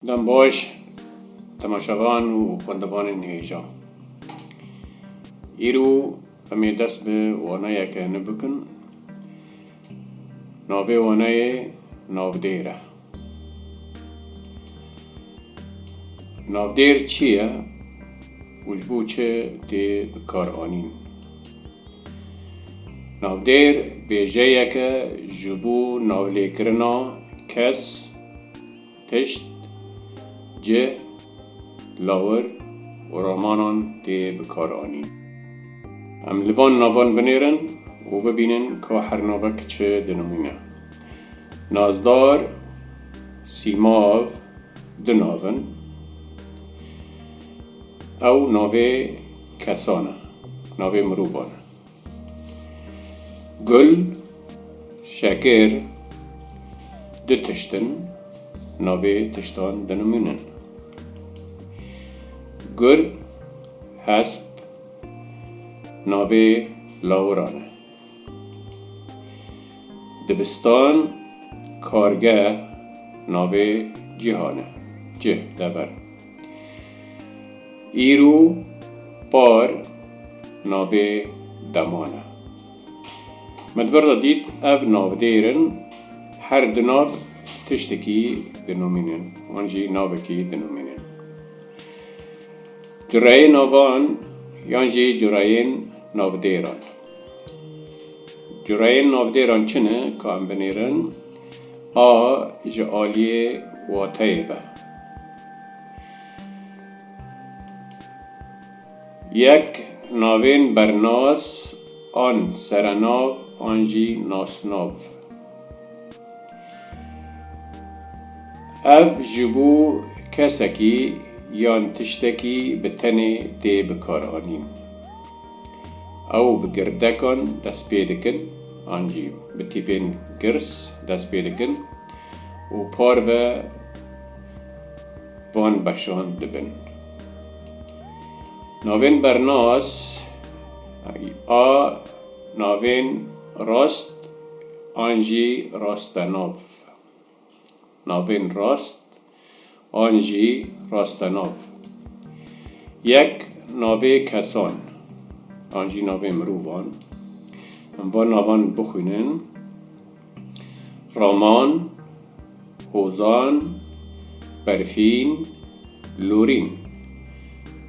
Dem baş temaşevan û xwendevanên hêjan. Îro em ê dest bi waneyeke nû bikin. Navê waneyê Navdêr e. Navdêr çi ye û ji bo çi tê bikaranîn? Navdêr bêjeyeke ji bo navlêkirina kes Tişt, cih, lawir û romanan tê bikaranîn. Em li van navan binêrin û bibînin ka her navek çi dinimûne. Nazdar, sîmav du nav in. Ew navê kesan e, navê mirovan e. Gul, şekir du tişt in, navê tiştan dinimûn in. Gul, hesp navê lawiran e. Dibistan, kargeh navê cîhan e, cih, dever. Îro par navê deman e. Me di vir de dît ev navdêr in her du nav tiştekî dinûmînin wan jî navekî dinûmînin. Cureyê navan yan jî cureyên navdêran. Cureyên navdêran çi ne ka em binêrin? A ji aliyê wateyê ve. Yek, navên bernas an serenav an jî nasnav. Ev ji bo kesekî yan tiştekî bi tenê tê bikaranîn. Ew bi girdekan dest pê dikin an jî bi tîpên girs dest pê dikin û parve van beşan dibin. Navên bernas a navên rast an jî rastenav, navên rast an jî rastenav, yek navê kesan an jî navê mirovan, em van navan bixwînin Raman, Hozan, Berfîn, Lorîn.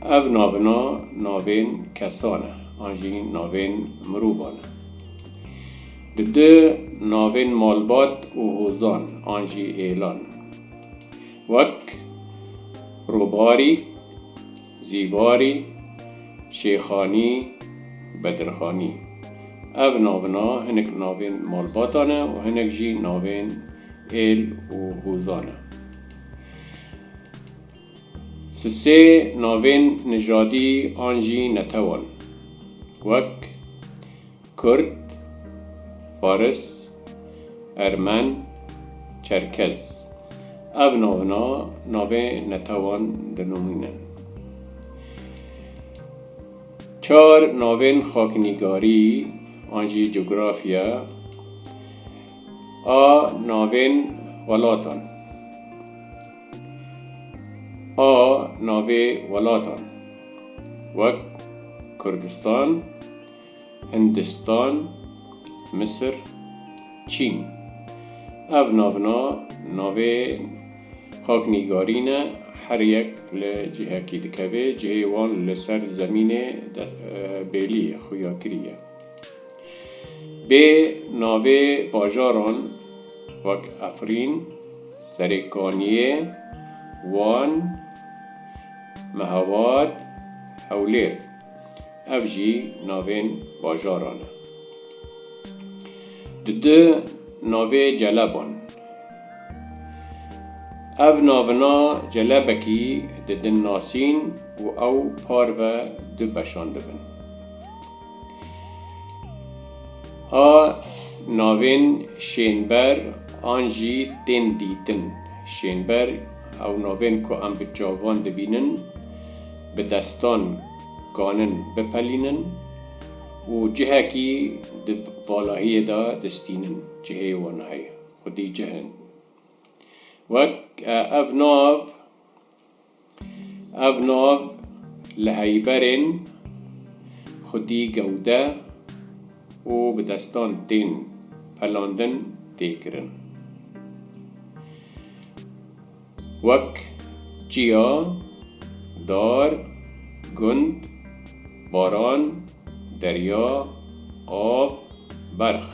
Ev navina navên kesan e an jî navên mirovan e. Di du navên malbat û hozan an jî êlan wek Robarî, Zîbarî, Şêxanî, Bedirxanî. Ev navina hinek navên malbata ne û hinek jî navên êl û hûza ne. Sisê navên nijadî an jî netewan wek. Kurd, Faris, Ermen, Çerkez ev navina navê netewan dinûmîne. Çar navên xaknîgarî an jî cografya a navên welatan a navê welatan wek Kurdistan, Hindistan, Misir, Çîn. Ev navina navên xaknîgarî ne, her yek li cihekî dikevê, cihê wan li ser zemînê de bêlî xuya kirî ye. Bê navê bajaran wek Efrîn, Serêkaniyê, Wan, Mehabat, Hewlêr. ev jî navên bajaran e. Di du navê Celeban. Ev navina Celebekî di din nasîn û ew parve du beşan dibin. A navên şênber an jî tên dîtin. Şênber, ew navên ku em bi çavan dibînin, bi destan kanin bipelînin û cihekî di valahiyê de distînin cihê wan hey xwedî cih in wek ev nav ev nav li heyberên xwedî gewde û bi destan tên pelandin tê kirin. wek, çiya, dar, gund, baran, derya, av, berx.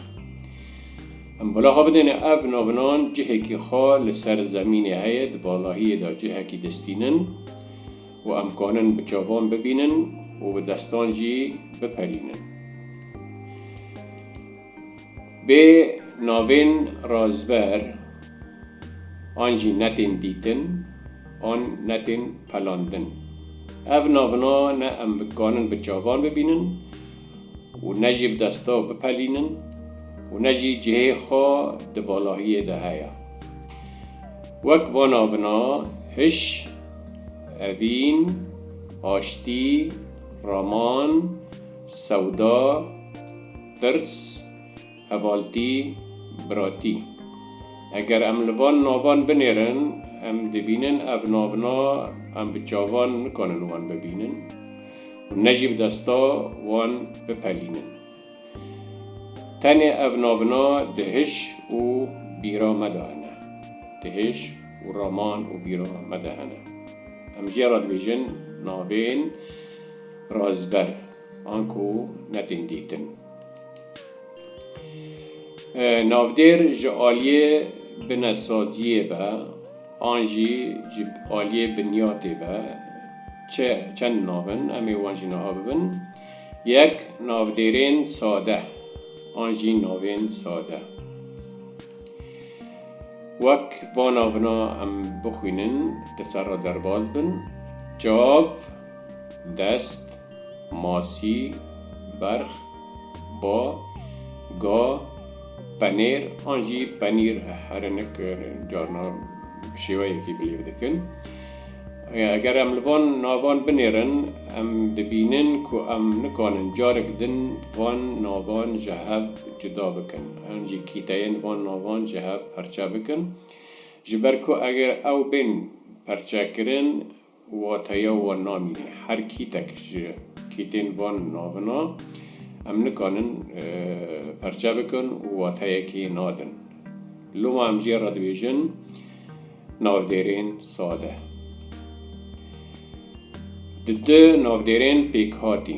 Em bala xwe bidêne ev navinan cihekî xwe li ser zemînê heye, di balahiyê de cihekî distînin û em kanin bi çavan bibînin û bi destan jî bipelînin. Bi navên razber an jî netên dîtin an netên pelandin. Ev navina ne em bikarin bi çavan bibînin û ne jî bi desta bipelînin û ne jî cihê xwe di valahiyê de heye. Wek van navina hiş, evîn, aştî, raman, sewda, Pirs, Hevaltî, Biratî. Eger em li van navan binêrin, em dibînin ev navna em bi çavan nikanin wan bibînin û ne jî bi desta wan bipelînin. Tenê ev navna di hiş û bîra me de hene. Di hiş û raman û bîra me de hene. Em jê re dibêjin navên razber. Anku ne tên dîtin. Navdêr ji aliyê binesaziyê ve an jî ji aliyê binyatê ve çi çend nav in em ê wan jî niha bibin, Yek, Navdêrên sade an jî navên sade. Wek va navina em bixwînin, di ser re derbas bin, Çav, dest, Masî, berx, ba, ga, penêr an jî penîr herinik carna bi şêweyekî bilêv dikin. Eger em li van navan binêrin em dibînin ku em nikanin carek din van navan ji hev cuda bikin an jî kîteyên van navan ji hev perçe bikin ji ber ku eger ew bên perçekirin, Wateya wan namîne. Her kîtek ji kîtên van navina em nikanin perçe bikin û wateyekê nadin. Loma em jê re dibêjin navdêrên sade. Di du navdêrên pêkhatî.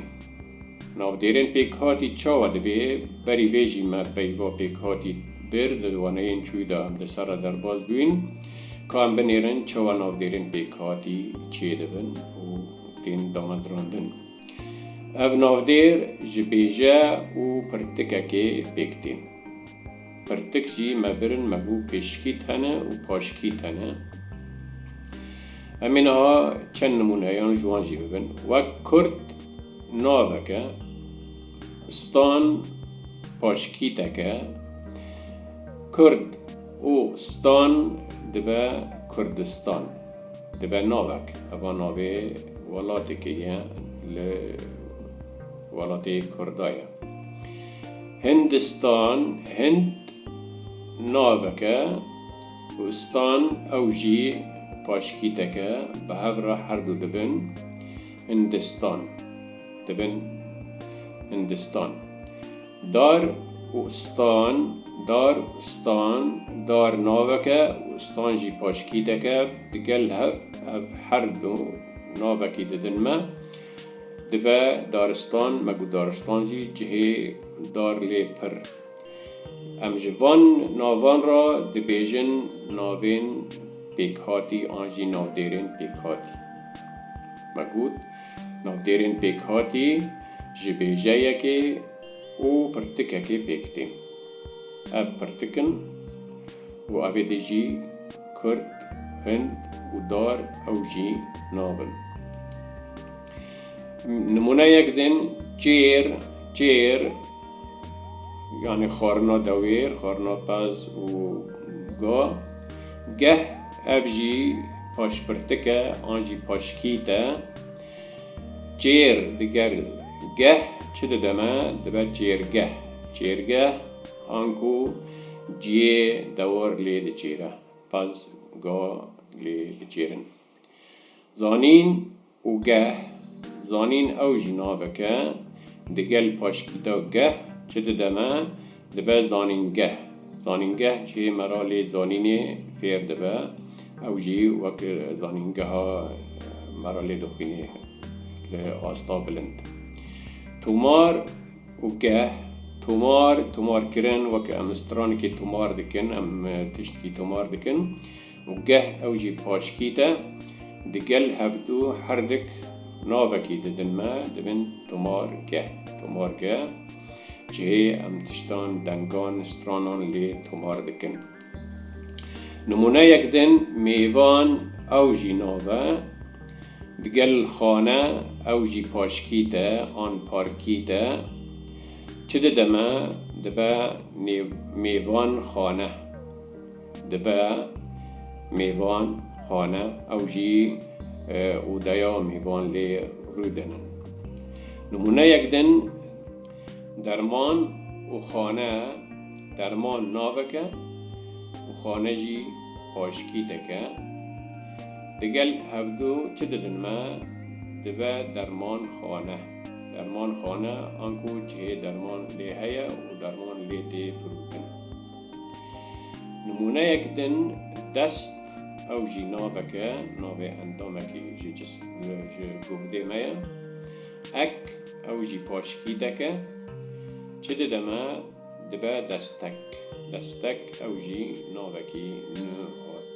Navdêrên pêkhatî çawa dibê? Berî vê jî me peyva pêkhatî bir di waneyên çûyî de em di ser re derbas bûyîn. Ka em binêrin çawa navbêrên pêkhatî çêdibin û tên damatirandin. Ev navdêr ji bêje û pirtikekê pêk tên. Pirtik jî me birin me bû pêşkî tene û paşkî tene. Em ê niha çend nimûneyan ji wan jî bibin. Wek kurd navek e, stan paşkîtek e, kurd. Û stan dibe Kurdistan. Dibe navek. Heva navê welatekê ye li welatê Kurda ye. Hindistan, Hind navek e û stan ew jî paşkîtek e. Bi hev re her du dibin Hindistan. Dibin Hindistan. Dar û stan, dar û stan, dar navek e û stan jî paşkîdek e, di gel hev ev her du navekî didin me. Dibe daristan me ku daristan jî cihê dar lê pir. Em ji van navan re dibêjin navên pêkhatî an jî navdêrên pêkhatî. Me got. Navdêrên pêkhatî ji bêjeyekê û pirtikekê pêk tên. Ev pirtik in û ev ê di jî kurd, hind û dar ew jî nabin. Nimûneyek din, çêr, çêr. yanî xwarina dewêr, xwarina pez û ga, geh ev jî paşpirtik e an jî paşkît e. Çêr diger geh çi dide me? Dibe çêrgeh. Çêrgeh anku ciyê dewar lê diçêre, pez, ga lê diçêrin. Zanîn û geh, zanîn ew jî navek e, digel paşkîta geh çi dide me, dibe zanîngeh. Zanîngeh cihê me ra lê zanînê fêr dibe, ew jî wek zanîngeha me ra lê dixwînê li asta bilind. Tomar û geh, tomar, tomarkirin, wek em stranikê tomar dikin, em tiştikî tomar dikin. Û geh ew jî paşkî de digel hevdu herdik navekî didin me dibin tomargeh, tomargeh cihê em tiştan, dengan, stranan lê tomar dikin. Nimûneyek din mêvan ew jî nav e. Digel xane ew jî paşkî de an parkî de çi dide me dibe nêv mêvan xane. Dibe mêvan xane ew jî odeya mêvan lê rûdinin. Nimûneyek din, derman û xane derman naveke û xane jî paşikî dike. Digel hevdu çi didin me? Dibe derman xane. Derman xane anku cihê derman lê heye û derman lê tê firûtin. Nimûneyek din dest ew jî navek e, navê endamekî ji ji guhdê me ye. Ek, ew jî paşkîdek e. Çi dide me, dibe destek. Destek ew jî navekî nû hat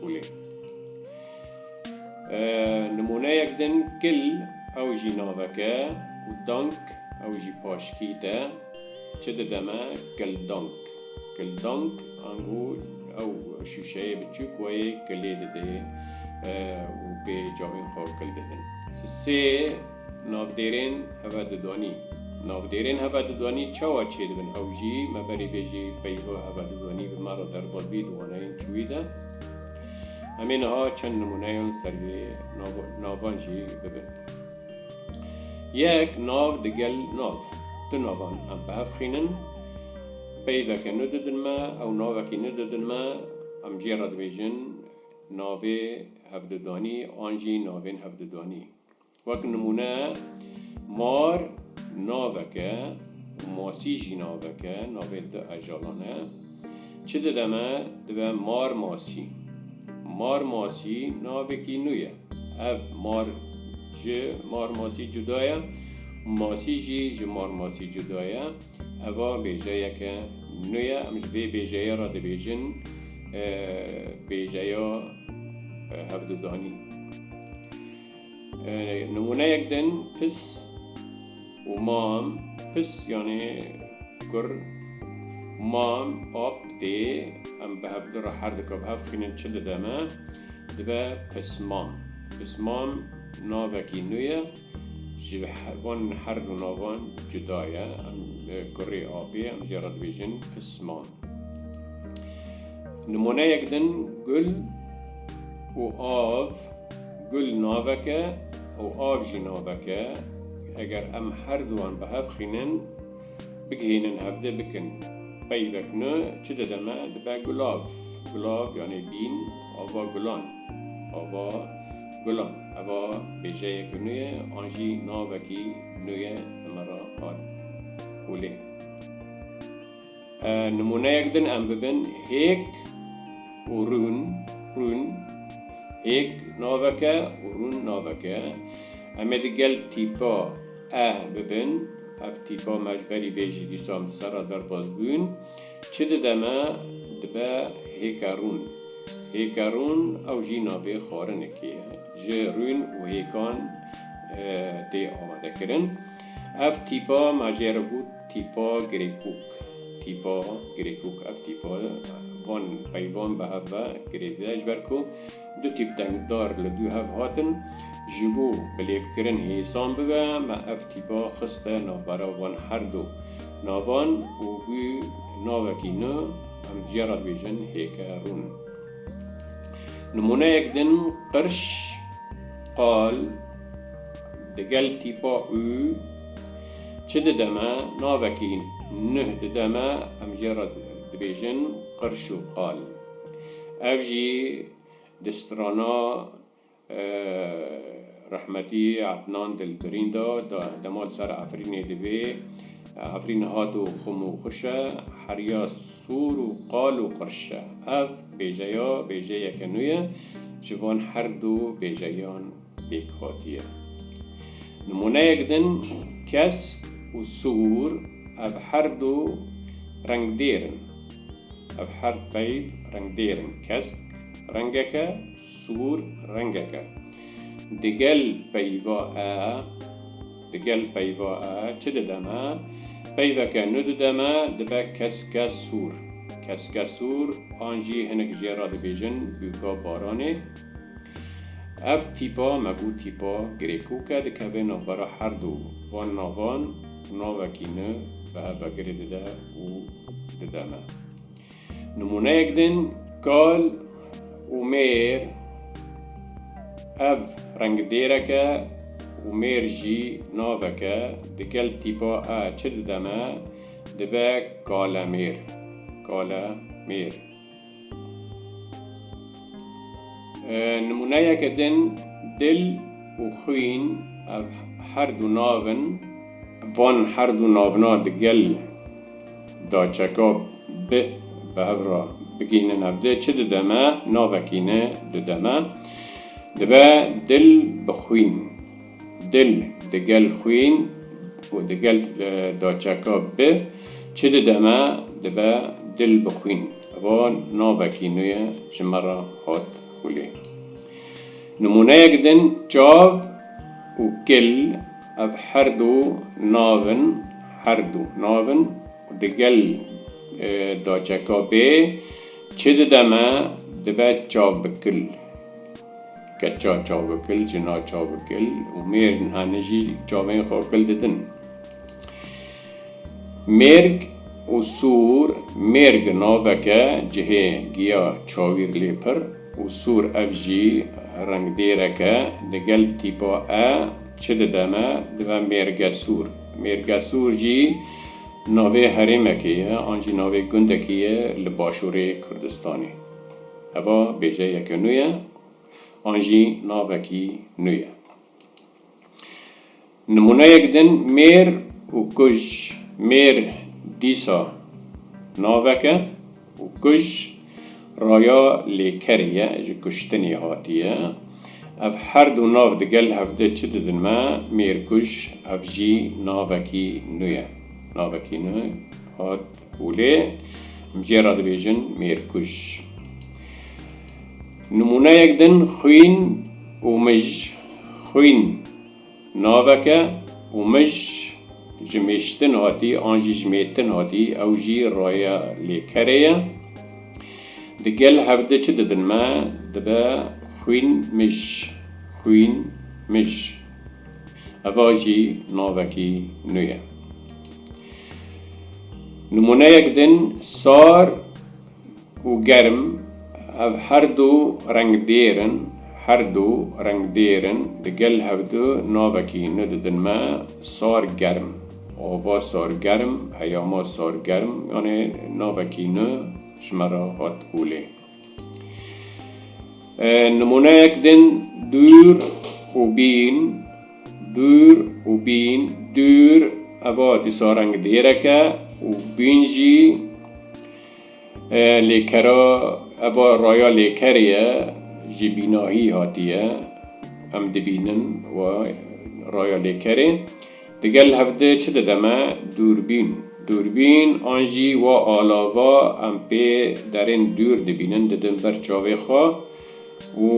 holê. Nimûneyek din kil ew jî navek e û dank ew jî paşkîd e. Çi dide me? Kildong. Kildong ango ew şûşeyê biçûk wê kilê didê û pê cavên xwe kil didin. Sê navdêrên hevedidwanî. Navdêrên hevedidwanî çawa çêdibin ew jî me berî vê jî peyva hevedidwanî bi me re derbas bî di waneyên çûyî de. Em ê niha çend nimûneyan li ser vê navan jî bibin. Yek nav digel nav. Du navan em bi hev xînin. Peyveke nû didin me ew navekî nû didin me. Em jê re dibêjin navê hevdudanî an jî navên hevdudanî. Wek nimûne mar navek e û masî jî navek e, navên du hejalan e. Çi dide me? Dibe mar masî. Mar masî navekî nû ye. Ev mar ji mar masî cuda ye û masî jî ji mar masî cuda ye. Eva bêjeyeke nû ye. Em ji vê bêjeyê re dibêjin bêjeya hevdûdanî. Nimûneyek din, pis. û mam pis yanê kur mam ap dê em bi hevdu re her dika bi hev xînin çi dide me dibe pismam pismam navekî nû ye ji van her du navan cuda ye em li kurê apê em jê re dibêjin pismam nimoneyek din gul û av Gul navek e û av jî navek e, eger em her du wan bi hev xînin, bigihînin hevdê bikin, peyvek nû çi dide me, dibe gulav. Gulav yanî bîn ava gulan, ava gulan. Eva bêjeyek nû ye an jî navekî nû ye li me re hat holê. Nimûneyek din em bibin hêk û rûn, rûn, hêk naveke û rûn naveke. Em ê di gel tîpa e bibin. Ev tîpa me ji berî vê jî dîsan bi ser re derbas bûn. Çi dide me? Dibe hêka rûn. Hêka rûn ew jî navê xwarinekê ye. Ji rûn û hêkan tê amadekirin. Ev tîpa me jê re got. Tîpa Girêkûk Tîpa Girêkûk Ev tîpa van peyvan bi hev ve girêdiye ji ber ku du tîp dengdar li dû hev hatin. Ji bo bilêvkirin hêsan bibe me ev tîpa xiste navbera van her du navan û bû navekî nû em dije re dibêjin hêke rûn. Nimûneyek din qirş, qal, digel tîpa û. Çi dide me? Navekî nuh dide me, em jê re dibêjin qirş û qal. Ev jî di strana rehmetî Ednan Dilbirîn de dema li ser Efrînê divê, Efrîn hat û xum û xwiş e, heriya sor û qal û qirş e. Ev bêjeya bêjeyeke nû ye ji van her du bêjeyan. pêk hatiye. Nimûneyek din kesk û sûr ev her du rengdêr in. Ev her peyv rengdêr in, kesk rengek e, sûr rengek e. Digel peyva e, digel peyva e çi dide me? Peyveke nû dide me, dibe keske sûr. Keske sûr an jî hinek jê re dibêjin bûka baranê. Ev tîpa me bû tîpa Grêkûke dikeve navbera her du van navan û navekî nû bi hev ve girê dide û dide me. Nimûneyek din, kal û mêr Ev rengidêrek e û mêr jî navek e, di gel tîpa e çi dide me? Dibe kalemêr, kale mêr. Nimûneyeke din dil û xwîn ev her du nav in. Van her du navna di gel da çeka bi bi hev re bigihînin hev de çi dide me? Navekî ne dide me. Dibe dil bi xwîn. Dil di gel xwîn û di gel daçeka bi çi dide me, dibe dil bi xwîn. Ev navekî nû ye ji me re hat holê. Nimûneyek din, çav û kil ev her du nav in, her du nav in û di gel daçeka bê çi dide me, dibe çav bi kil. Keça çavikil, jina çavikil û mêrn anî jî çavên xwe kil didin. Mêrg û Sûr Mêrg naveke cihê giya çawîr lê pir û sûr ev jî rengdêrek e digel tîpa e çi dide me dibe mêrge sûr. Mêrge sûr jî navê herêmekê ye an jî navê gundekî ye li başûrê Kurdistanê. Heva bêjeyeke nû ye. an jî navekî nû ye. Nimûneyek din mêr û kuj, mêr dîsa navek e û kuj raya lêkerê ye, ji kuştinê hatiye. Ev her du nav digel hev di çi didin me, mêr kuj, ev jî navekî nû ye. Navekî nû hat. û lê bi cê re dibêjin mêrkuj. Nimûneyek din xwîn û mij, xwîn navek e û mij ji mêştin hatî an jî ji mêtin hatî ew jî raya lê kerê ye. Di gel hev di çi didin me dibe xwîn mij, xwîn mij. Eva jî navekî nû ye. Nimûneyek din, sar û germ, ev her du rengdêr in, her du rengdêr in, di gel hev du navekî nû didin me, sar germ, ava sar germ, heyama sar germ, yanê navekî nû ji me re hat holê. Nimûneyek din dûr û bîn, dûr û bîn, dûr eva dîsa reng dêrek e û bîn jî lêkera eva raya lêkerê ye ji bînahî hatiye em dibînin raya lêkerê. Digel hevdê çi dide me? Dûrbîn. Dûrbîn an jî wa alava em pê derên dûr dibînin didin ber çavê xwe û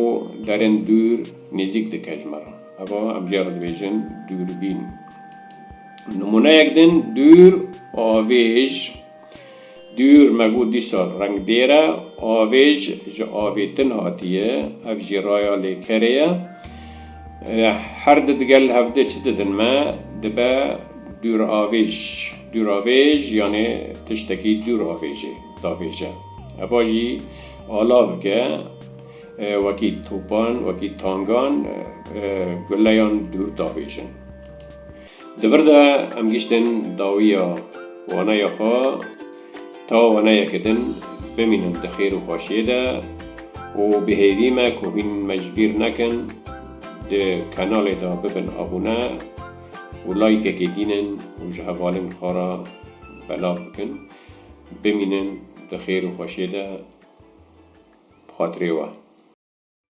derên dûr nêzîk dike ji me re. Heva em jê re dibêjin dûrbîn. Nimûneyek din, dûr, avêj. Dûr me bû dîsal rengdêr e, avêj ji avê tin hatiye, ev jî raya lêkerê ye. Her di digel hev de çi didin me, dibe dûravêj. Dûravêj yanê tiştekî dûr avêjê davêje. Eva jî alavik e, wekî topan, wekî tangan guleyan dûr davêjin. Di vir de em giştin dawiya waneya xwe ta waneyeke din bimînin di xêr û xweşiyê de û bi hêvî me ku hîn me ji bîr nekin di kanalê de bibin abûne û layîkekê dînin û ji hevalên xwe re belav bikin. Bimînin di xêr û xweşiyê de bi xatirê we.